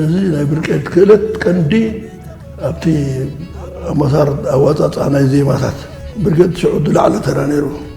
እዚ ናይ ብርቄድ ክእለት ቀንዲ ኣብቲ ኣመሳር ኣዋፃፃኣ ናይ ዜማታት ብርቄድ ሽዑ ዝለዓለ ተራ ነይሩ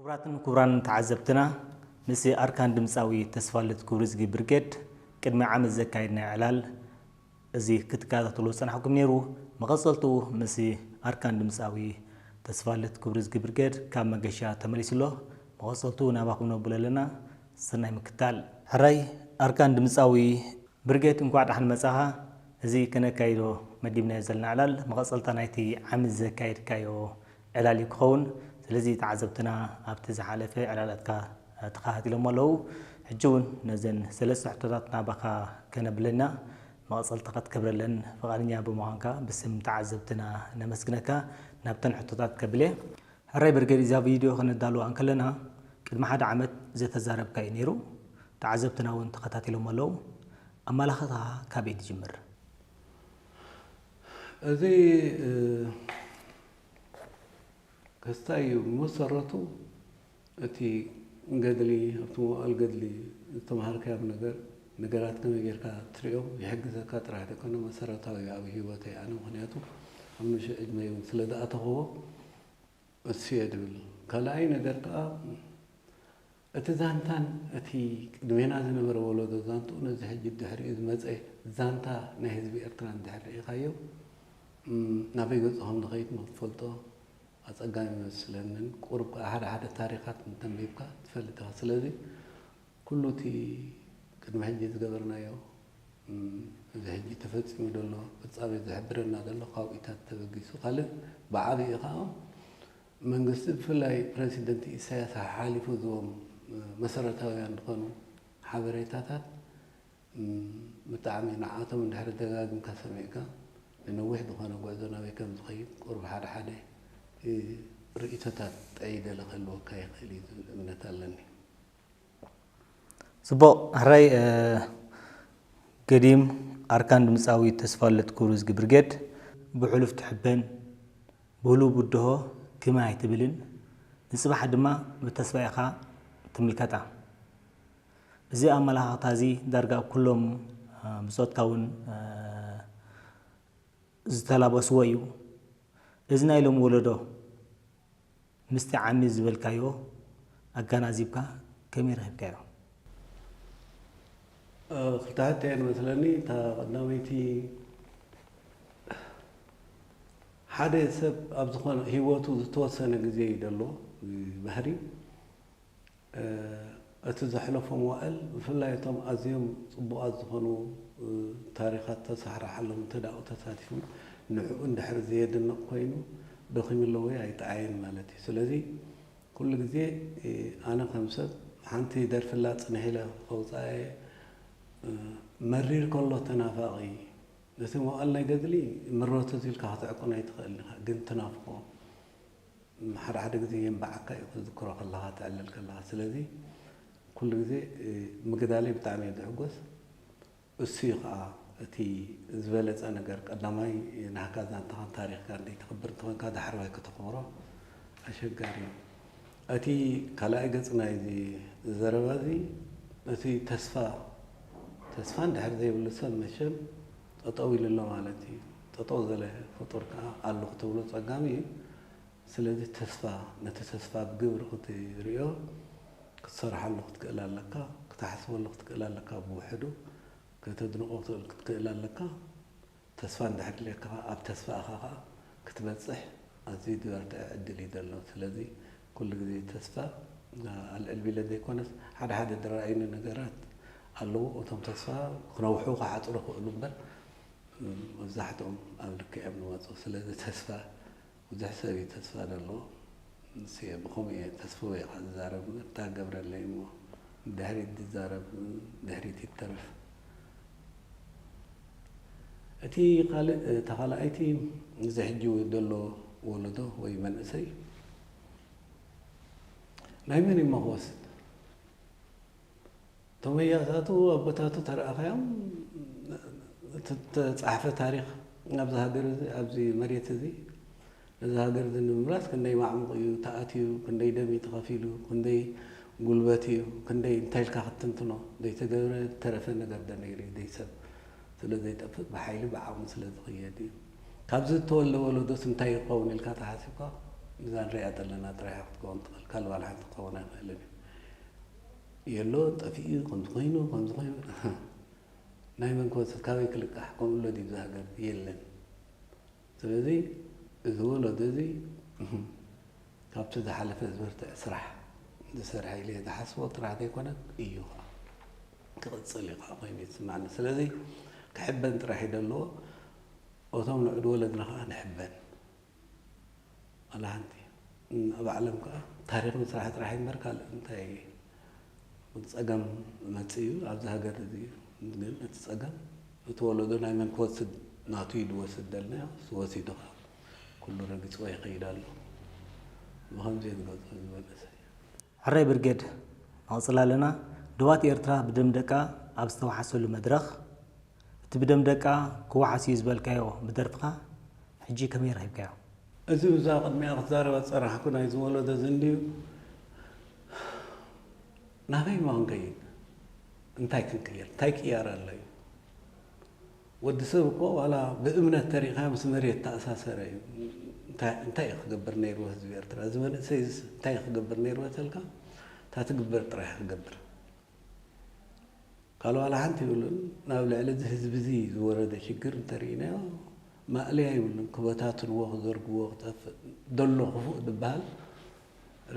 ክቡራትን ክቡራንን ተዓዘብትና ምስ ኣርካን ድምጻዊ ተስፋልት ክብርዝጊ ብርጌድ ቅድሚ ዓመት ዘካየድናዮ ዕላል እዚ ክትከታተልዎ ዝጸናሕኩም ነይሩ። መቐጸልትኡ ምስ ኣርካን ድምጻዊ ተስፋልት ክብርዝጊ ብርጌድ ካብ መገሻ ተመሊሱ ኣሎ። መቐጸልትኡ ናባኹም ነብሎ ኣለና። ሰናይ ምክታል። ሕራይ ኣርካን ድምጻዊ ብርጌድ እንኳዕ ዳሓን መጻኻ እዚ ከነካይዶ መዲብናዮ ዘለና ዕላል መቐጸልታ ናይቲ ዓሚ ዘካየድካዮ ዕላል እዩ ክኸውን። ስለዚ ተዓዘብትና ኣብቲ ዝሓለፈ ዕላላትካ ተኸታቲሎሞ ኣለው። ሕጂ እውን ነዘን ሰለስተ ሕቶታት ናባኻ ከነብል እና። መቐጸልታ ከትገብረለን ፍቓደኛ ብምዃንካ ብስም ተዓዘብትና ነመስግነካ። ናብተን ሕቶታት ከብል እየ። ሕራይ ብርጌድ እዛ ቪድዮ ከነዳልዋ እንከለና ቅድሚ ሓደ ዓመት ዘተዛረብካዮ እዩ ነይሩ። ተዓዘብትና እውን ተኸታቲሎሞ ኣለው። ኣመላኽታ ካበይ ትጅምር? እዚ ክስታይ እዩ ብመሰረቱ እቲ ገድሊ ኣብቲ መዋእል ገድሊ ዝተምሃርካዮም ነገር ነገራት ከመይ ጌርካ ትሪኦም ይሕግዘካ ጥራሕ ደይኮነ መሰረታዊ እዩ ኣብ ሂወተይ ኣነ ምክንያቱ ኣብ ንእሽቶ ዕድመይ እውን ስለ ዝኣተኽዎ እሱ እየ ድብል ካልኣይ ነገር ከዓ እቲ ዛንታን እቲ ቅድሜና ዝነበረ ወለዶ ዛንትኡ ነዚ ሕጂ ድሕሪኡ ዝመጸ ዛንታ ናይ ህዝቢ ኤርትራ እንድሕር ርኢኻዮ ናበይ ገጹ ከም ዝኸይድ ንኽትፈልጦ ኣጸጋሚ ኣይመስለንን። ቁሩብ ከኣ ሓደ ሓደ ታሪኻት እንተ ኣንቢብካ ትፈልጥ ኢኻ። ስለዚ ኩሉ እቲ ቅድሚ ሕጂ ዝገበርናዮ እዚ ሕጂ ተፈጺሙ ዘሎ ፍጻሜ ዝሕብረና ዘሎ ካብኡታት ተበጊሱ ካልእ ብዓቢኡ ከኣ መንግስቲ ብፍላይ ፕረሲደንት ኢሳያስ ሓሓሊፉ ዝህቦም መሰረታውያን ዝኾኑ ሓበሬታታት ብጣዕሚ ንዓቶም እንድሕሪ ደጋጊምካ ሰሚዕካ ንነዊሕ ዝኾነ ጉዕዞ ናበይ ከም ዝኸይድ ቁሩብ ሓደ ሓደ ርእይቶታት ጠይደለ ክህልወካ ይኽእል እዩ ዝብል እምነት ኣለኒ። ጽቡቕ ሕራይ ገዲም ኣርካን ድምጻዊ ተስፋልደት ክብሩ ዝጊ ብርጌድ። ብሕሉፍ ትሕበን ብህሉው ብድሆ ክም ኣይትብልን ንጽባሕ ድማ ብተስፋ ኢኻ ትምልከታ። እዚ ኣመለኻኽታ'ዚ ዳርጋ ኣብ ኩሎም ብጾትካ'ውን ዝተላበስዎ እዩ። እዚ ናይ ሎሚ ወለዶ፣ ምስቲ ዓሚ ዝበልካዮ ኣጋናዚብካ ከመይ ረኺብካዮ? ክልተ ሕቶ እየን መስለኒ እታ ቀዳመይቲ ሓደ ሰብ ኣብ ዝኾነ ሂወቱ ዝተወሰነ ግዜ እዩ ደሎ ብባህሪ እቲ ዘሕለፎ መዋእል ብፍላይ እቶም ኣዝዮም ጽቡቓት ዝኾኑ ታሪኻት ተሳሕራሓሎም እንተ ኣብኡ ተሳቲፉ ንዕኡ እንድሕር ዘየድንቕ ኮይኑ ደኺሙ ኣሎ ወይ ኣይጠዓየን ማለት እዩ። ስለዚ ኩሉ ግዜ ኣነ ከም ሰብ ሓንቲ ደርፊ ኣላ ጽንሕ ኢለ ከውጽኣ እየ መሪር ከሎ ተናፋቒ ነቲ መዋእል ናይ ገድሊ ምረቱ እዚ ኢልካ ክትዕቅኖ ኣይትኽእልን ኢኻ ግን ትናፍቖ። ሓደ ሓደ ግዜ የንባዓካ እዩ ክትዝክሮ ከለኻ ትዕልል ከለኻ ስለዚ ኩሉ ግዜ ምግዳለይ ብጣዕሚ እየ ዝሕጎስ እሱ እዩ ከዓ እቲ ዝበለፀ ነገር ቀዳማይ ናህካ ዛንታኻን ታሪኽካን ዘይተኽብር እንተኾይንካ ዳሕረዋይ ከተኽብሮ ኣሸጋሪ እዩ እቲ ካልኣይ ገፅ ናይዚ ዘረባ እዚ እቲ ተስፋ ተስፋ እንድሕር ዘይብሉ ሰብ መቸም ጠጠው ኢሉ ኣሎ ማለት ኢዩ። ጠጠው ዘለ ፍጡር ከኣ ኣሉ ክትብሎ ጸጋም ኢዩ። ስለዚ ተስፋ ነቲ ተስፋ ብ ግብሪ ክትሪኦ ክትሰርሓሉ ክትክእል ኣለካ። ክትሓስበሉ ክትክእል ኣለካ ብውሕዱ ከተድንቆ ክትክእል ኣለካ። ተስፋ እንድሕር ድልየካ ከኣ ኣብ ተስፋ እኻ ከኣ ክትበጽሕ ኣዝዩ ዝበርትዐ ዕድል ኢዩ ዘሎ። ስለዚ ኩሉ ግዜ ተስፋ ኣልዕልቢለ ዘይኮነስ ሓደ ሓደ ድራኣይኒ ነገራት ኣለዉ እቶም ተስፋ ክነውሑ ክሓጽሩ ክእሉ እምበር መብዛሕትኦም ኣብ ልክዕ እዮም ዝመጹ ስለዚ ተስፋ ብዙሕ ሰብ እዩ ተስፋ ዘለዎ ንሱ እየ ብከምኡ እየ ተስፍወ እየ ካብ ዝዛረብ እምበር እንታይ ገብረለይ እሞ ድሕሪት ዝዛረብ ድሕሪት ይተረፍ እቲ ካልእ እታ ካልኣይቲ እዚ ሕጂ ዘሎ ወለዶ ወይ መንእሰይ ናይ መን እሞ ክወስድ እቶም ኣያታቱ ኣቦታቱ ተረኣኻዮም እተጻሕፈ ታሪኽ ኣብዚ ሃገር እዚ ኣብዚ መሬት እዚ እዚ ሃገር እዚ ንምምላስ ክንደይ ማዕሙቕ እዩ ተኣትዩ፣ ክንደይ ደም እዩ ተኸፊሉ፣ ክንደይ ጉልበት እዩ፣ ክንደይ እንታይ ኢልካ ክትትንትኖ ዘይተገብረ ዝተረፈ ነገር ዶ ነይሩ እዩ፣ ደይ ሰብ ስለ ዘይጠፍእ ብሓይሊ ብዓቕሚ ስለ ዝቕየድ እዩ፣ ካብዚ ዝተወልደ ወለዶስ እንታይ እዩ ክኸውን ኢልካ ተሓሲብካ እዛ ንሪኣ ዘለና ጥራሕ እያ ክትከውን ትኽእል ካልእ ዋላ ሓንቲ ክኸውን ኣይኽእልን እዩ። የሎ ጠፊኡ እዩ ከምዚ ኮይኑ ከምዚ ኮይኑ እህ ናይ መን ክወስድ ካበይ ክልቃሕ ከምኡ ኣሎ ድዩ እዚ ሃገር የለን። ስለዚ እዚ ወለዶ እዚ ካብቲ ዝሓለፈ ዝበርትዐ ስራሕ ዝሰርሐ ኢለ ዝሓስቦ ጥራሕ ዘይኮነስ እዩ ከኣ ክቕጽል እዩ ከኣ ኮይኑ ይስማዕኒ ስለዚ ክሕበን ጥራሕ እዩ ዘለዎ እቶም ንዑድ ወለድና ከኣ ንሕበን ዋላ ሓንቲ ኣብ ዓለም ከዓ ታሪኽ ምስራሕ ጥራሕ እምበር ካልእ እንታይ ፀገም መፅእ እዩ ኣብዚ ሃገር እዚ ግን እቲ ፀገም እቲ ወለዶ ናይ መን ክወስድ ናቱ እዩ ዝወስድ ደልና እሱ ወሲዱ ከዓ ኩሉ ረጊፅዎ ይኸይድ ኣሎ ብኸምዚ እየ ዝገልፆ እዚ መንእሰይ ሕራይ ብርጌድ ኣቕጽላለና ዶባት ኤርትራ ብደም ደቃ ኣብ ዝተዋሓሰሉ መድረኽ እቲ ብደም ደቃ ክዋሓስ እዩ ዝበልካዮ ብደርፍኻ ሕጂ ከመይ ረኺብካዮ? እዚ ብዛዕባ ቅድሚኣ ክትዛረብ ኣጸናሕኩ ናይዚ ወሎዶ እዚ እንድዩ ናበይ እሞ ክንከይድ እንታይ ክንቅይር እንታይ ቅያር ኣሎ እዩ። ወዲ ሰብ እኮ ዋላ ብእምነት ተሪእኻዮ ምስ መሬት ተኣሳሰረ እዩ። እንታይ እንታይ እዩ ክገብር ነይርዎ ህዝቢ ኤርትራ እዚ መንእሰይ እዚስ እንታይ እዩ ክገብር ነይርዎ ተልካ እታ ትግበር ጥራሕ እዩ ክገብር ካልእ ዋላ ሓንቲ ይብሉን ናብ ልዕሊ እዚ ህዝቢ እዚ ዝወረደ ሽግር እንተርኢናዮ ማእለያ ይብሉን ክበታትንዎ ክዘርግዎ ክጠፍእ ደሎ ክፉእ ዝበሃል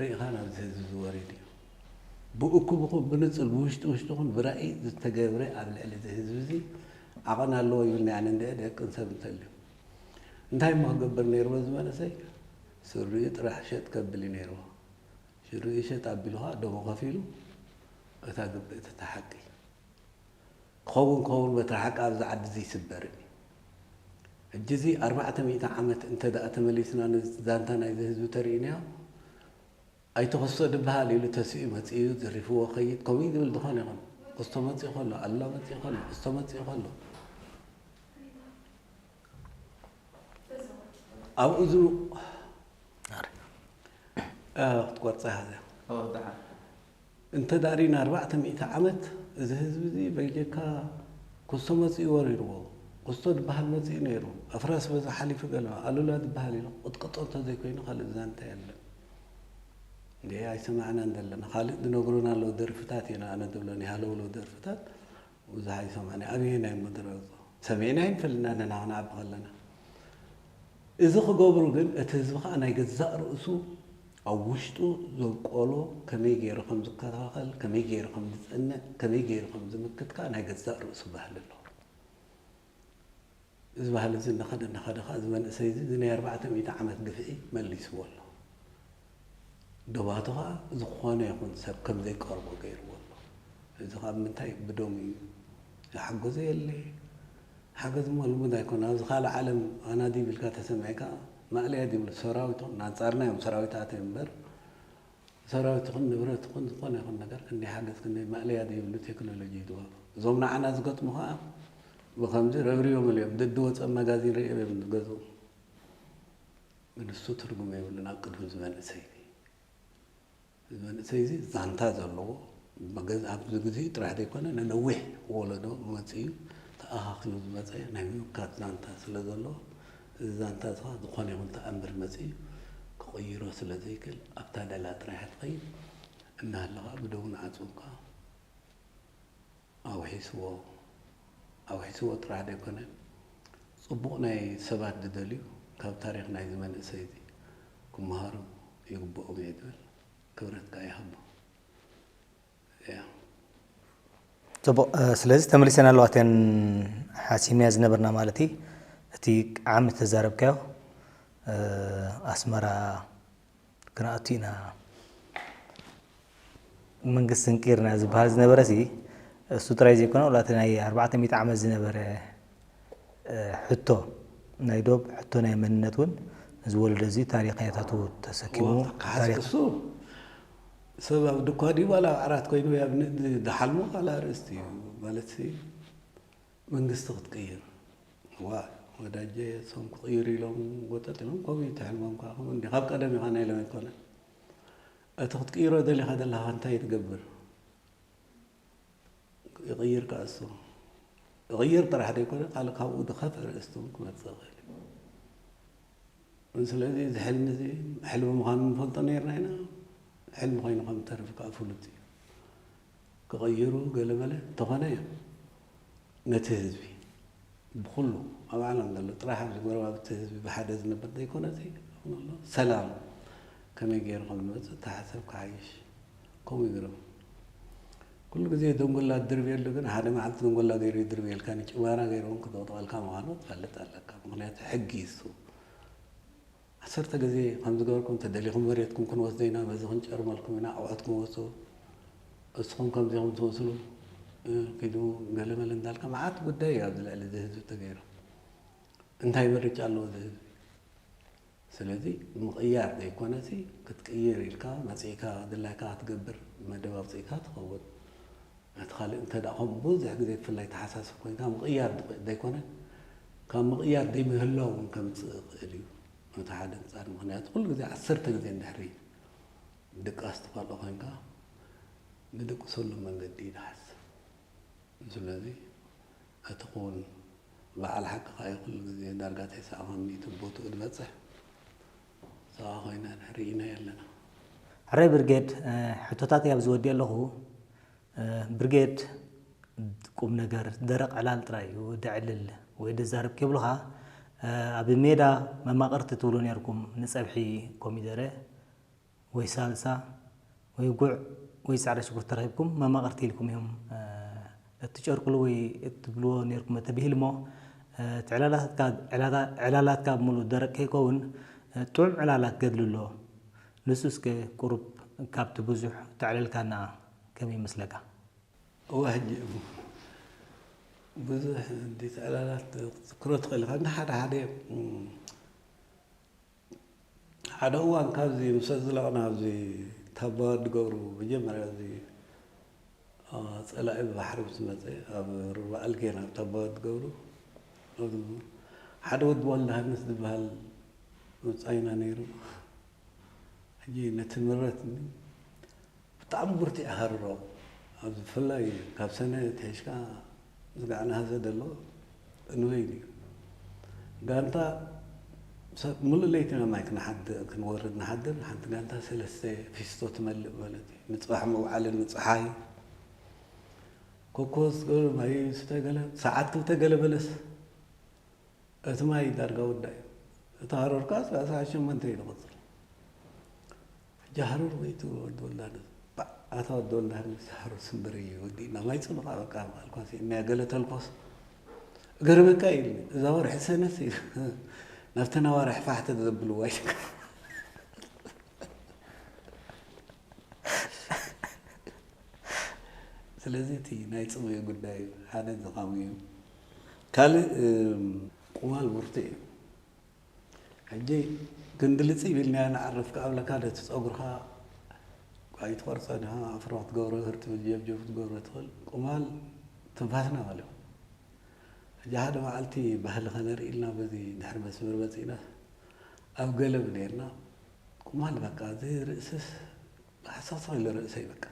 ርኢኻ ናብዚ ህዝቢ እዚ ወሪዱ እዩ። ብእኩብኹም ብንጹር ብውሽጢ ውሽጥኹም ብራኢ ዝተገብረ ኣብ ልዕሊ እዚ ህዝቢ እዚ ዓቐን ኣለዎ ይብልኒ ኣነ እንድዒ ደቅን ሰብ እንተልዩ እንታይ እሞ ክገብር ነይርዎ እዚ መንእሰይ ስሪኡ ጥራሕ ሸጥ ከብል እዩ ነይርዎ ሽሪኡ ሸጥ ኣቢሉ ኸኣ ደሙ ከፊሉ እታ ግብእቲ እታ ሓቂ ክኸውን ክኸውን በትሪ ሓቂ ኣብዛ ዓዲ ዘይስበርን እዩ። ሕጂ እዚ ኣርባዕተ ሚእቲ ዓመት እንተ ደኣ ተመሊስና ነዚ ዛንታ ናይዚ ህዝቢ ተርእዩናዮ ኣይተ ክስቶ ድበሃል ኢሉ ተሲኡ መጺኡ ዘሪፍዎ ክኸይድ ከምኡ እዩ ዝብል ዝኾነ ይኹን ክስቶ መጺኡ ከሎ ኣሉላ መጺኡ ከሎ ክስቶ መጺኡ ከሎ ኣብ እዝኑ ክትቆርጻ ሃዘ እንተ ዳሪና ኣርባዕተ ሚእቲ ዓመት እዚ ህዝቢ እዚ በይጀካ ኩስቶ መጺኡ ወሪርዎ ኩስቶ ድባሃል መጺኡ ነይሩ ኣፍራስ በዚ ሓሊፉ ገለዋ ኣሉላ ድባሃል ኢሉ ክቅጥቅጦ እንተ ዘይኮይኑ ካልእ ዛንታ የለን። እንድዒ ኣይሰማዕናን ዘለና ካልእ ድነግሩና ኣለዉ ደርፍታት እየን ኣነ ድብለን ሃለውለው ደርፍታት ቡዝሓይ ሰማንያ ኣበየናይ ምድረገጹ ሰሚዕናዮ ኣይንፈልጥን ኣነ ንዓ ክንዓቢ ከለና እዚ ክገብሩ ግን እቲ ህዝቢ ከኣ ናይ ገዛእ ርእሱ ኣብ ውሽጡ ዘብቆሎ ከመይ ገይሩ ከም ዝከታኸል ከመይ ገይሩ ከም ዝጽንዕ ከመይ ገይሩ ከም ዝምክት ከኣ ናይ ገዛእ ርእሱ ባህሊ ኣለዎ። እዚ ባህሊ እዚ እናኸደ እናኸደ ከኣ እዚ መንእሰይ እዚ እዚ ናይ ኣርባዕተ ሚእቲ ዓመት ግፍዒ መሊስዎ ኣሎ። ዶባቱ ከኣ ዝኾነ ይኹን ሰብ ከም ዘይቀርቦ ገይርዎ ኣሎ። ሕጂ ከኣ ብምንታይ እዩ ብዶም እዩ ዝሓገዞ የለ። ሓገዝ እሞ ልሙድ ኣይኮነን። ኣብዚ ካልእ ዓለም ኣናዲብ ኢልካ ተሰሚዕካ ማእለያ ዘይብሉ ሰራዊቶም ናንጻርና እዮም ሰራዊት ኣትዮም እምበር ሰራዊት ይኹን ንብረት ይኹን ዝኾነ ይኹን ነገር ክንደይ ሓገዝ ክንደይ ማእለያ ዘይብሉ ቴክኖሎጂ እዩ ዝዋግኡ። እዞም ንዓና ዝገጥሙ ከኣ ብኸምዚ ረብሪቦምሉ እዮም። ደድወጸ መጋዚን ርእዮም እዮም ዝገዝኡ። ግን እሱ ትርጉም የብሉን ኣብ ቅድሚ እዚ መንእሰይ እዚ። እዚ መንእሰይ እዚ ዛንታ ዘለዎ ኣብዚ ግዜኡ ጥራሕ ዘይኮነ ንነዊሕ ወለዶ መጺኡ ተኣኻኺሉ ዝመጸ ናይ ምምካት ዛንታ ስለ ዘለዎ እዚ ዛንታ'ዚ'ኸኣ ዝኾነ ይኹን ተኣምር መጺኡ ክቕይሮ ስለ ዘይክእል ኣብ ታደላ ጥራይ'ያ ትኸይድ። እናሃለኻ ብደውን ዓጹን'ኳ ኣውሒስዎ። ኣውሒስዎ ጥራሕ ዘይኮነን ጽቡቕ ናይ ሰባት ዝደልዩ ካብ ታሪኽ ናይ'ዚ መንእሰይ'ዚ ክመሃሩ ይግብኦም'የ ዝብል። ክብረት ከኣ ይሃቦም። ፅቡቅ ስለዚ ተመሊሰን ኣለዋ እተን ሓሲምንያ ዝነበርና ማለት እዩ እቲ ዓሚ ተዛረብካዮ ኣስመራ ክንኣቱ ኢና መንግስቲ ስንቂርና ዝበሃል ዝነበረ ሲ እሱ ጥራይ ዘይኮነ ወላ እቲ ናይ ኣርባዕተ ሚእቲ ዓመት ዝነበረ ሕቶ ናይ ዶብ ሕቶ ናይ መንነት እውን እዚ ወለዶ እዚ ታሪክ ያታቱ ተሰኪሙ ታሪክ እሱ ሰብ ኣብ ድኳ ድዩ ዋላ ኣብ ዓራት ኮይኑ ዝሓልሞ ካልእ ኣርእስቲ እዩ ማለትሲ መንግስቲ ክትቅይር ዋ ወዳጀ ሶም ክቕይሩ ኢሎም ጎጠጥ ኢሎም ከምኡ እዩ ትሕልሞም ከዓ ከምኡ እንዲ ካብ ቀደም ኢኻ ናይ ሎም ኣይኮነን እቲ ክትቅይሮ ደሊኻ ዘለኻ እንታይ ትገብር ይቕይር ከኣሱ ይቕይር ጥራሕ ዘይኮነ ካል ካብኡ ድኸፍ ርእስቱን ክመጽእ ኽእል ስለዚ እዚ ሕልሚ እዚ ሕልሚ ምዃኑ ንፈልጦ ነርና ኢና ሕልሚ ኮይኑ ከም ተርፍ ከዓ ፍሉጥ እዩ ክቕይሩ ገለ መለ እንተኾነ እዮም ነቲ ህዝቢ ብኹሉ ኣብ ዓለም ዘሎ ጥራሕ ኣብዚ ጎረባብቲ ህዝቢ ብሓደ ዝነብር ዘይኮነሲ ንኹሉ ሰላም ከመይ ገይሩ ከም ዝመፅእ ተሓሰብ ክሓይሽ ከምኡ ይግረም ኩሉ ግዜ ደንጎላ ትድርብየሉ ግን ሓደ መዓልቲ ደንጎላ ገይሩ ይድርብየልካ ንጭዋራ ገይሩ እውን ክጠቕጠቐልካ ምዃኑ ትፈልጥ ኣለካ ምክንያቱ ሕጊ እሱ ዓሰርተ ግዜ ከም ዝገበርኩም ተደሊኹም መሬትኩም ክንወስዶ ኢና በዚ ክንጨርመልኩም ኢና ኣውዕትኩም ወጹ እስኹም ከምዚ ኢኹም ትመስሉ ኪዱ ገለ መለ እንዳልካ መዓት ጉዳይ እዩ ኣብዚ ልዕሊ እዚ ህዝቢ ተገይሩ እንታይ ምርጫ ኣለዎ እዚ ህዝቢ ስለዚ ምቕያር ዘይኮነሲ ክትቅይር ኢልካ መጺእካ ድላይካ ክትገብር መደብ ኣውጺእካ ትኸውን ነቲ ካልእ እንተ ከምኡ ብዙሕ ግዜ ብፍላይ ተሓሳስብ ኮይንካ ምቕያር ዝኽእል ዘይኮነ ካብ ምቕያር ዘይምህላው እውን ከምጽእ ይኽእል እዩ ነቲ ሓደ እንጻር ምክንያቱ ኩሉ ግዜ ዓሰርተ ግዜ እንድሕሪ ድቃስ ትኸልኦ ኮይንካ ንድቅሰሉ መንገዲ ይድሓስ ስለዚ እቲ ክውን በዓል ሓቅኻ እዩ ኩሉ ግዜ ዳርጋ ተስዓ ካብ ሚእቲ ቦትኡ ዝበጽሕ ጸባ ኮይና ርእይናያ ኣለና። ሕራይ ብርጌድ ሕቶታተይ ኣብዚ ወዲኤ ኣለኹ። ብርጌድ ቁምነገር ደረቕ ዕላል ጥራይ እዩ ደዕልል ወይ ደዛረብ ኬብሉኻ ኣብ ሜዳ መማቕርቲ ትብሉ ኔርኩም ንጸብሒ ኮሚደረ ወይ ሳልሳ ወይ ጉዕ ወይ ጻዕዳ ሽጉርቲ ተረኺብኩም መማቕርቲ ኢልኩም እዮም እትጨርቁሉ ወይ እትብልዎ ኔርኩም ተብሂልሞ እቲ ዕላላትካ ዕላላትካ ብምሉኡ ደረቅ ከይከውን ጥዑም ዕላላ ክገድል ኣሎ ንሱ እስከ ቁሩብ ካብቲ ብዙሕ ተዕለልካና ከመይ ይመስለካ እወ ሕጂ እሞ ብዙሕ እንዲት ዕላላት ክትዝክሮ ትኽእል ኢኻ እንዳ ሓደ ሓደ እዮም። ሓደ እዋን ካብዚ ምስ ኣዝለቕና ኣብዚ ታባዋዲ ገብሩ መጀመርያ እዚ ፀላኢ ብባሕሪ ምስ መፀ ኣብ ሩባ ኣልጌን ኣብ ታባዋዲ ገብሩ ሓደ ወዲ ወልደሃንስ ዝበሃል መፃይና ነይሩ ሕጂ ነቲ ምረት ብጣዕሚ ብርቲዕ ሃርሮ ኣብዚ ብፍላይ ካብ ሰነ ኣትሒዝካ ዝናዕ እናሃዘ ዘሎ እንበይኑ እዩ። ጋንታ ሰብ ምሉእ ለይቲ ናብ ማይ ክንሓድር ክንወርድ ንሓድር ሓንቲ ጋንታ ሰለስተ ፊስቶ ትመልእ ማለት እዩ። ንጽባሕ መውዓልን ንጸሓይ ኮኮስ ገለ ማይ ስተ ገለ ሰዓት ክልተ ገለ በለስ እቲ ማይ ዳርጋ ወዳእ እዩ። እቲ ሃሮርካ እስካዕ ሰዓት ሸሞንተ እዩ ዝቕጽል። ሕጂ ሃሩር ወይ እቲ ወዲ ወላድስ። ባእ ኣታ ወዲ ወላድ ምስ ሃሩር ስምብር ኢዩ ወዲእና ማይ ጽምቓ በቃ በሃልኳ ሲኢንያ ገለ ተልኮስ እገርመካ ኢዩ ኢልኒ እዛ ወርሒ ሰነስ ኢዩ ናብተን ኣዋርሕ ፋሕተት ዘብልዋ ይሽከር ስለዚ እቲ ናይ ጽምኢ ጉዳይ ሓደ እዚ ከምኡ እዩ ካልእ ቁማል ብርቱዕ እዩ ሕጂ ክንዲ ልጺብ ኢልናያ ንዓርፍ ክኣ ብለካ ዶ እቲ ጸጉርካ ኣይትቆርጸ ድካ ኣፍሮ ክትገብሮ ህር ትብል ጀብጀብ ክትገብሮ ትክል ቁማል ትንፋስና በልዮም ሕጂ ሓደ መዓልቲ ባህሊ ከነርኢ ኢልና በዚ ድሕሪ መስመር መጺእና ኣብ ገለብ ኔርና ቁማል በቃ እዚ ርእስስ ሓሰክሰክ ኢሉ ርእሰይ በቃ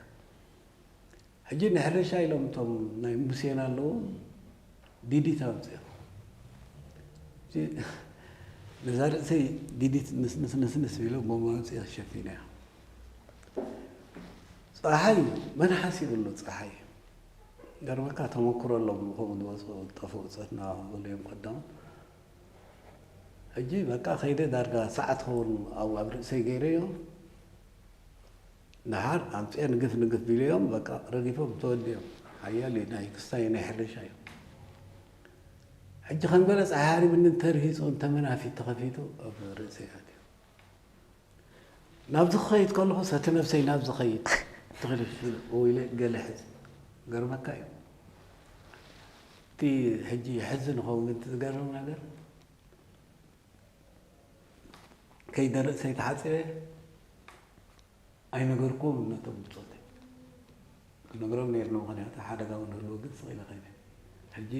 ሕጂ ንሕርሻ ኢሎም እቶም ናይ ሙሴና ኣለዉ ዲዲት ኣምፅኦም ነዛ ርእሰይ ዲዲት ንስንስንስ ቢሎ ቦማ ኣምፅኦ ሸፊና እያ ፀሓይ መን ሓሲብሉ ፀሓይ ገርበካ ተመክሮ ኣሎም ንከምኡ ዝወፅኡ ጠፍኡ ፀትና ዝብሉ እዮም ቀዳም ሕጂ በቃ ከይደ ዳርጋ ሰዓት ኸውን ኣብ ርእሰይ ገይረዮ ደሓር ኣብ ጼር ግፍ ንግፍ ቢሎዮም በቃ ረጊፎም ተወዲኦም ሓያል እዩ ናይ ክስታይ ናይ ሕርሻ እዩ ሕጂ ከም ገለ ጸሓይ ሃሪምኒ እንተርሂጹ እንተ መናፊት ተኸፊቱ ኣብ ርእሰይ ኣትዩ ናብዚ ክኸይድ ከለኹ ሰቲ ነብሰይ ናብ ዝኸይድ ተኽልፍኡ ኢለ ገለ ሕዝ ገርመካ እዩ እቲ ሕጂ ሕዚ ንኸው ግን ዝገርም ነገር ከይደርእ ሰይተሓፂረ ኣይነገርኩን ነቶም ብፆተይ ክነግሮም ነይሩ ምክንያቱ ሓደጋ እውን ህልዎ ግን ስቕ ኢለ ከይደ ሕጂ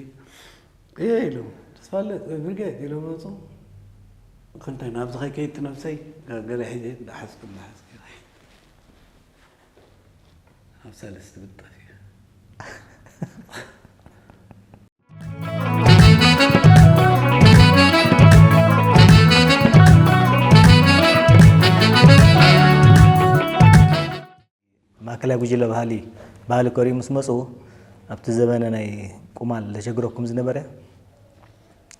እየ ኢሎም ተስፋለት ወይ ብርጌድ ኢሎም መፁ ክንታይ ናብዚ ከይከይድቲ ነብሰይ ገለ ሕጂ ዳሓዝኩ ዳሓዝኩ ኣብ ሰለስቲ ብጠፍ ማእከላይ ጉጅለ ባህሊ ባህሊ ከሪኡ ምስ መፁ ኣብቲ ዘበነ ናይ ቁማል ዘሸግረኩም ዝነበረ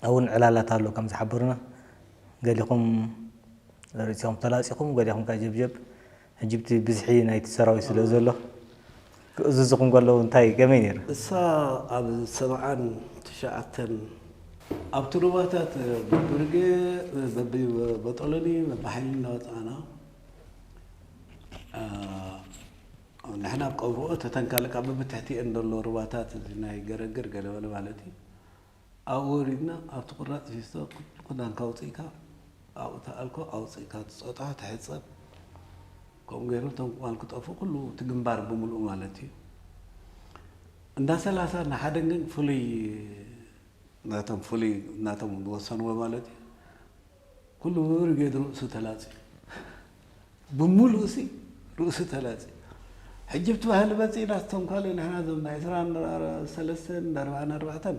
እውን ዕላላት ኣሎ ከም ዝሓበሩና ገሊኹም ርእሲኹም ተላፂኹም ገሊኹም ከዓ ጀብጀብ ሕጂ ብቲ ብዝሒ ናይቲ ሰራዊት ስለ ዘሎ ክእዝዙኹም ከለዉ እንታይ ከመይ ነይሩ? እሳ ኣብ ሰብዓን ትሽዓተን። ኣብቲ ሩባታት በብርጌ በቢበጦሎኒ በቢሓይሊ እናወጻእና ንሕና ኣብ ቀብርኦት እተን ካልእ ከኣ በብትሕቲኤን ዘሎ ሩባታት እዚ ናይ ገረግር ገለመለ ማለት እዩ። ኣብኡ ወሪድና ኣብቲ ቁራጽ ፊስቶ ክዳንካ ኣውጺእካ ኣብኡ ተኣልኮ ኣውጺእካ ትጾጣ ትሕጸብ ከምኡ ገይሮም እቶም ቁማል ክጠፉ ኩሉ እቲ ግንባር ብምልኡ ማለት እዩ እንዳ ሰላሳ ንሓደን ግን ፍሉይ ናቶም ፍሉይ ናቶም ዝወሰንዎ ማለት እዩ ኩሉ ብብርጌድ ርእሱ ተላጽዩ ብሙሉኡሲ ርእሱ ተላጽዩ ሕጂ ብቲ ባህሊ መጺእና ዝተንኮለ ንሕና እዞም ናይ ዕስራን ሰለስተን ኣርባዓን ኣርባዕተን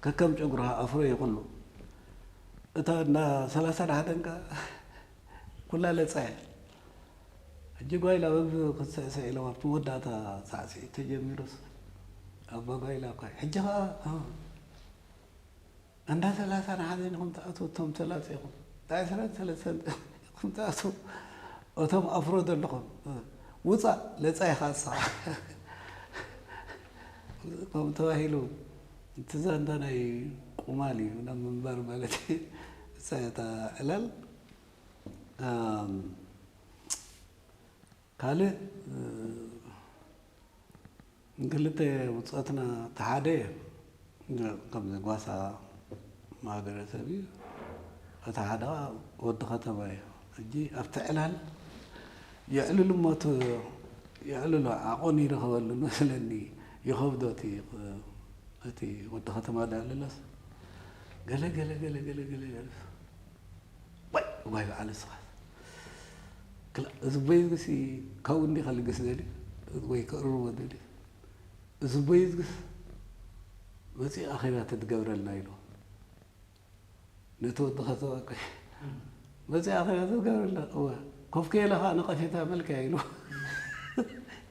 ከከም ጨጉርኻ ኣፍሮ እዩ ኩሉ እታ እንዳ ሰላሳን ሓደን ከኣ ኩላ ለጻ እያ ሕጂ ጓይላ በብ ክትስዕስዕ ኢሎም ኣብቲ መወዳእታ ሳዕስዒት ተጀሚሩስ ኣባ ጓይላ እኳ ሕጂ ከኣ እንዳ ሰላሳን ሓደን ኢኹም ትኣትዉ እቶም ተላጺኹም እንዳ ዕስራን ሰለስተን ኢኹም ትኣትዉ እቶም ኣፍሮ ዘለኹም ውጻእ ለጻ ኢኻ ንስኻ ከምኡ ተባሂሉ እቲ ዛንታ ናይ ቁማል እዩ ናብ ምንባር ማለት እሳ እታ ዕላል ካልእ ንክልተ ውጽኣትና እቲ ሓደ ከምዚ ጓሳ ማህበረሰብ እዩ እቲ ሓደ ከኣ ወዲ ከተማ እዩ ሕጂ ኣብቲ ዕላል የዕልሉ እሞ እቲ የዕልሎ ዓቆን ይረኽበሉ መስለኒ ይኸብዶ እቲ እቲ ወዲ ከተማ ዘዕልሎስ ገለ ገለ ገለ ገለ ገለ ዋይ ዋይ በዓል እስኻስ ክላእ እዚ ቦይዝግሲ ካብኡ እንዲኻ ልግስ ደልዩ ወይ ከእርርዎ ደልዩ እዚ ቦይዝግስ መጺኡ ኣኼባ ተትገብረልና ኢልዎ ነቲ ወዲ ከተባቂ መጺኡ ኣኼባ ተትገብረልና እወ ኮፍ ከይለ ከዓ ነቐፌታ መልክያ ኢልዎ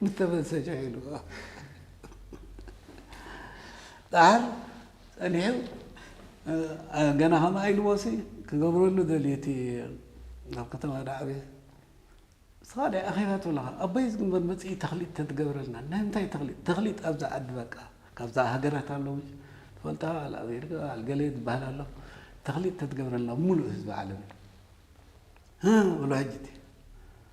ንተመሰጃ ኢልዎ ዳሓር ጸኒሑ ገና ከምኣ ኢልዎሲ ክገብረሉ ደልዩ እቲ ኣብ ከተማ ዳዕበ ዝተፈላለዩ ኣኼባታት ኣለካ ኣቦይ ዝግበር መጽኢ ተክሊጥ ተትገብረልና ናይ ምንታይ ተክሊጥ ተክሊጥ ኣብዛ ዓዲ በቃ ካብዛ ሃገራት ኣለዉ ትፈልጣ ኣብ ኣሜሪካ ኣብ ገለ ዝበሃል ኣሎ ተክሊጥ ተትገብረልና ሙሉእ ህዝቢ ዓለም ብሎ ሕጂ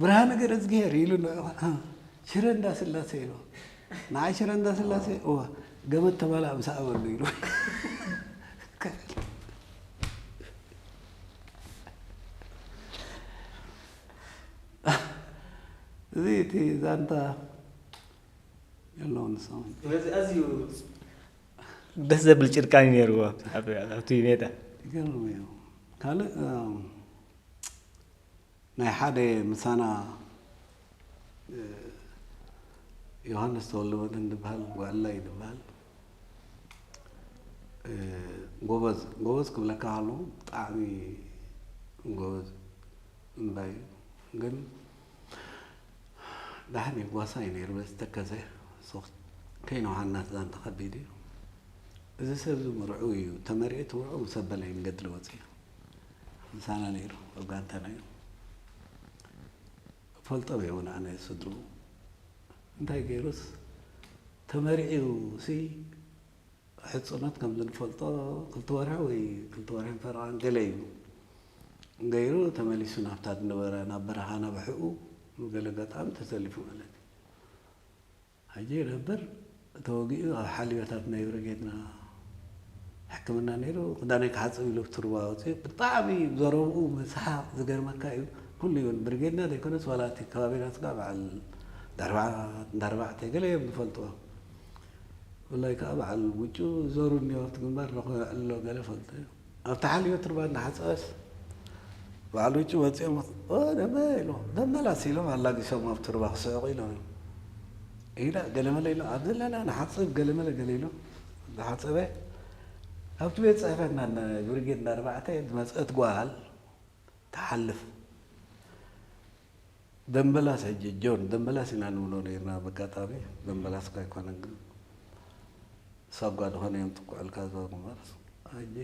ብርሃነ ገረዝግሄር ኢሉ ሽረ እንዳስላሴ ኢሉ ንዓይ ሽረ እንዳስላሴ እወ ገመድ ተባላዕ ምስ ኣበሉ ኢሉ እዚ እቲ ዛንታ የለውን ሰሙ ነዚ ኣዝዩ ደስ ዘብል ጭርቃን እዩ ነይርዎ ኣብቲ ሜዳ ይገርም እዩ ካልእ ናይ ሓደ ምሳና ዮሃንስ ተወልደመድህን ዝበሃል ጓልላ እዩ ዝበሃል ጎበዝ ጎበዝ ክብለካ ከሎ ብጣዕሚ ጎበዝ እምባ እዩ ግን ዳሕን ይጓሳ እዩ ነይሩ በዚ ተከዘ ከይነ ውሃናት ዛንታ ከቢድ እዩ እዚ ሰብ እዚ ምርዑ እዩ ተመሪዑ ትምርዑ ምስ ኣበለ እዩ ንገድሊ ወፂኡ ምሳና ነይሩ ኣብ ጋንታና እዩ ፈልጦ እውን ኣነ ስድሩ እንታይ ገይሩስ ተመሪዕዩ ሲ ሕፁነት ከም ዝንፈልጦ ክልተ ወርሒ ወይ ክልተ ወርሒ ፈረቓን ገለ እዩ ገይሩ ተመሊሱ ናብታ ዝነበረ ናብ በረኻ ናብሕኡ ገለ ገጣሚ ተሰሊፉ ማለት እዩ ሕጂ ይነብር ተወጊኡ ኣብ ሓልዮታት ናይ ብርጌድና ሕክምና ኔሩ ክዳነይ ክሓጽብ ኢሉ ቱርባ ኣውጺኡ ብጣዕሚ ዘረብኡ ምስሓቅ ዝገርመካ ኢዩ ኩሉ ይብል ብርጌድና ዘይኮነስ ዋላ እቲ ከባቢና ስጋዕ በዓል ዳርባዓት እንዳርባዕተ ገለ ኢዮም ዝፈልጥዎ ብፍላይ ከኣ በዓል ውጩ ዘሩ እንዮ ኣብቲ ግንባር ነኩ ኣሎ ገለ ፈልጦ ኢዩ ኣብቲ ሓልዮት ትርባ እናሓጸበስ በዓል ውጪ ወጺኦም ኦ ደመ ኢሎም መመላስ ኢሎም ኣላጊሶም ኣብቲ ርባ ክስሕቑ ኢሎም እዮም ኢላ ገለመለ ኢሎም ኣብ ዘለና ንሓጽብ ገለመለ ገለ ኢሎም ዝሓጸበ ኣብቲ ቤት ጽሕፈትና ብርጌድ እንዳ ኣርባዕተ ዝመጸት ጓል ትሓልፍ ደምበላስ ሕጂ ጆን ደምበላስ ኢና ንብሎ ነርና በጋጣሚ ደምበላስ እኳ ኣይኮነን ግን ሳብ ጓል ኾነ እዮም ጥቁዕልካ ዝበሩ እምበርስ ሕጂ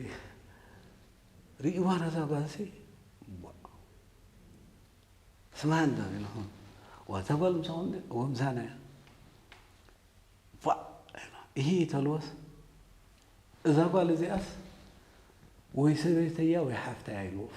ርእይዋ ነዛ ጓልሲ ስማ እንዶ ኢልኹም ዋ ተጓል ምሳኹም ድ እዎ ምሳና እያ ፋእ ኢሂ ተልዎስ እዛ ጓል እዚኣስ ወይ ሰበይተያ ወይ ሓፍተያ ኢልዎም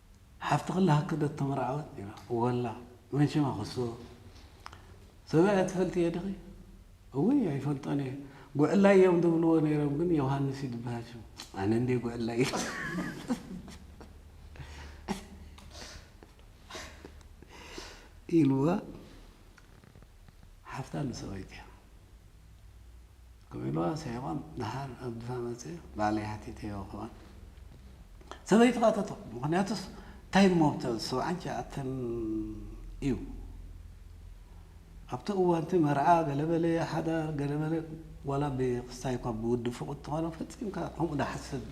ሓፍቲ ክላ ሃክ ዶ ተመርዓወት ኔራ ወላ መን ሽማ ክስቦ ሰብኣይ ኣይትፈልጥዮ ድኺ እውይ ኣይፈልጦን እየ ጉዕላይ እዮም ድብልዎ ኔሮም ግን ዮሃንስ እዩ ድብሃል ሽሙ ኣነ እንዴ ጉዕላይ ኢልዋ ሓፍታ ንሰበይትያ ክም ኢልዋ ስሒቆም ድሓር ኣብ ድፋ መጽ ባዕለይ ሓቲተዮ ክኣ ሰበይቱ ክኣ ተተኩ ምክንያቱስ እንታይ እሞ ኣብቲ ሰብዓን ትሽዓተን እዩ ኣብቲ እዋንቲ መርዓ ገለ በለ ሓዳር ገለ በለ ዋላ ብክስታይ እኳ ብውዲ ፍቁድ ተኮነ ፈጺምካ ከምኡ ድሓስብ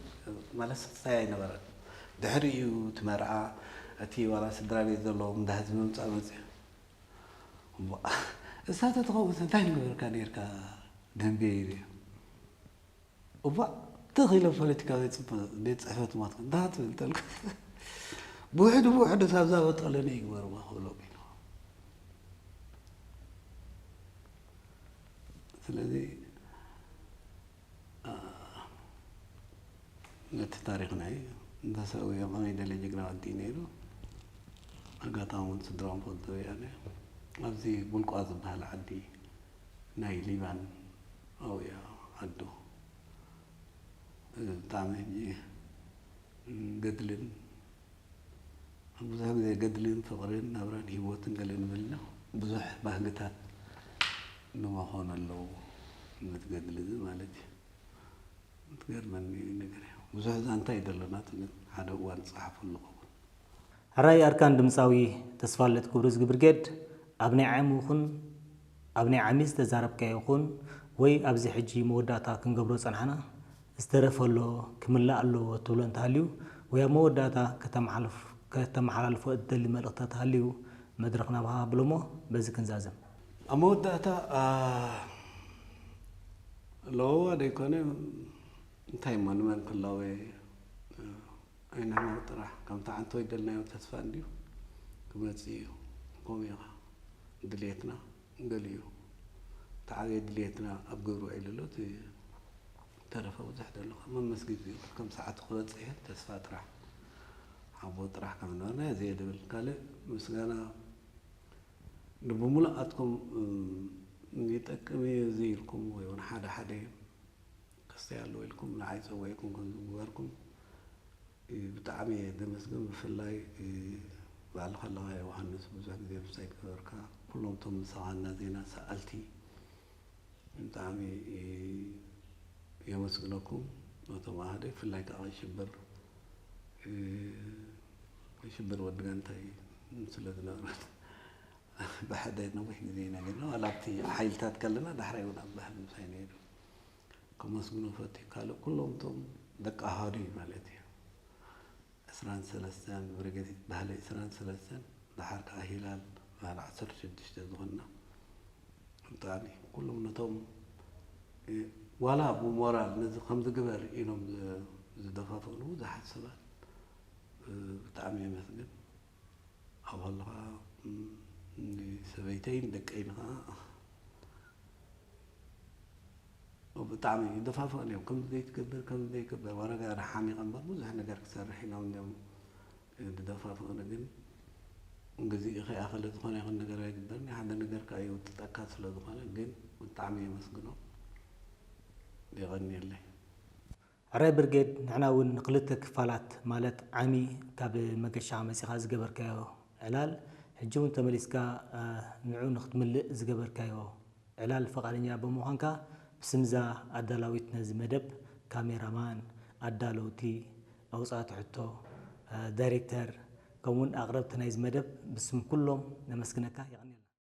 ማለት ስክስታይ ኣይነበረን ድሕሪ እዩ እቲ መርዓ እቲ ዋላ ስድራ ቤት ዘለዎም እንዳ ህዝቢ ምምጻእ መጽ እሞ እሳ ተትኸውንስ እንታይ ምገበርካ ኔርካ ደምቤ ይብያ እባ ትኽ ኢለ ፖለቲካ ቤት ፅሕፈት ሞትክ እንዳ ትብል እንተልኩስ ብውሕዱ ብውሕዱ ሳብዛ በጦለኒ ይግበርዎ ክብሎ ስለዚ ነቲ ታሪክ ናይ እንተሰውዮ ከመይ ደለ ጅግና ወዲ እዩ ነይሩ ኣጋጣሚ እውን ስድራኦም ፈልጡ ወያነ ኣብዚ ቡልቋ ዝበሃል ዓዲ ናይ ሊባን ኣብያ ዓዱ እዚ ብጣዕሚ ሕጂ ገድልን ኣብ ብዙሕ ግዜ ገድልን ፍቕርን ናብራን ህይወትን ገለ እንብልና ብዙሕ ባህግታት ንመኾኑ ኣለዉ ነቲ ገድሊ እዚ ማለት እዩ። ትገርመኒ ነገር እያ ብዙሕ ዛንታ እዩ ደሎና ትብል ሓደ እዋን ትጸሓፉ ኣለኹም። ሕራይ ኣርካን ድምጻዊ ተስፋልደት ክብሩ ዝግብርጌድ ኣብ ናይ ዓሙ ይኹን። ኣብ ናይ ዓሚ ዝተዛረብካዮ ኩን ወይ ኣብዚ ሕጂ መወዳእታ ክንገብሮ ዝጸናሕና ዝተረፈ ኣሎ ክምላእ ኣለዎ እትብሎ እንተሃልዩ ወይ ኣብ መወዳእታ ከተማሓልፍ ከተመሓላልፎ እትደሊ መልእኽቲ ተተሃልዩ መድረኽ ናባኻ ኣብሎሞ በዚ ክንዛዘም። ኣብ መወዳእታ ኣሎዉዋ ደይኮነ እንታይ እሞ ንመን ክላወ ኣይንሕመቕ ጥራሕ ከምቲ ሓንቲ ወይ ደልናዮ ተስፋ እንድዩ ክመጽእ እዩ ከምኡ እዩ ከኣ ድልየትና ገሊኡ እቲ ዓብየ ድልየትና ኣብ ግብሪ ውዒሉ ኣሎ እቲ ዝተረፈ ብዙሕ ደሎ ከኣ መመስጊዱ እዩ ከም ሰዓቱ ክበጽሕ እዩ ተስፋ ጥራሕ ሓቦ ጥራሕ ከም ዝነበርና ዘየ ድብል ካልእ ምስጋና ንብምሉኣትኩም ይጠቅም እዩ እዚ ኢልኩም ወይ እውን ሓደ ሓደ ክስተይ ኣለዎ ኢልኩም ንዓይ ጸዊዕኩም ከም ዝግበርኩም ብጣዕሚ እየ ዘመስግን ብፍላይ ባዕልኻ ኣለኻ ዮውሃንስ ብዙሕ ግዜ ምስታይ ገበርካ ኩሎም እቶም ምሳኻ እና ዜና ሰኣልቲ ብጣዕሚ የመስግነኩም ነቶም ኣሃደ ብፍላይ ከዓ ሽብር ሽብር ወዲ ጋንታ እዩ ስለ ዝነበረት ብሓደ ነዊሕ ግዜ ኢና ጌርና ዋላ ኣብቲ ሓይልታት ከለና ዳሕራይ እውን ኣብ ባህሊ ምሳይ ነይሩ ከመስግኖ እፈቱ ካልእ ኩሎም እቶም ደቂ ኣሃዱ እዩ ማለት እዩ ዕስራን ሰለስተን ብርጌድ ባህሊ ዕስራን ሰለስተን ደሓር ከዓ ሂላል ባህሊ ዓሰርተ ሽዱሽተ ዝኾንና ብጣዕሚ ኩሎም ነቶም ዋላ ብሞራል ነዚ ከምዚ ግበር ኢሎም ዝደፋፍእሉ ብዙሓት ሰባት ብጣዕሚ የመስግን ኣባል ኸዓ ንሰበይተይን ደቀይን ኸዓ ብጣዕሚ ይደፋፍኡኒ እዮም። ከምዚ ዘይትገብር ከምዚ ዘይትገብር ወረጋ ሓሚቐ እምበር ብዙሕ ነገር ክሰርሕ ኢሎም እዮም ዝደፋፍኡኒ። ግን ግዚኡ ከይኣኸለ ዝኾነ ይኹን ነገር ኣይግበርን ሓደ ነገር ከዓ ይውጥጠካ ስለ ዝኾነ ግን ብጣዕሚ የመስግኖም። የቐንየለይ። ሕራይ ብርጌድ ንሕና እውን ንክልተ ክፋላት ማለት ዓሚ ካብ መገሻኻ መጺኻ ዝገበርካዮ ዕላል ሕጂ እውን ተመሊስካ ንዑ ንክትምልእ ዝገበርካዮ ዕላል ፈቃደኛ ብምዃንካ ብስም እዛ ኣዳላዊት ነዚ መደብ ካሜራ ማን ኣዳለውቲ ኣውጻእቲ ሕቶ ዳይሬክተር ከምኡ እውን ኣቅረብቲ ናይዚ መደብ ብስም ኩሎም ነመስግነካ የቀንየልና።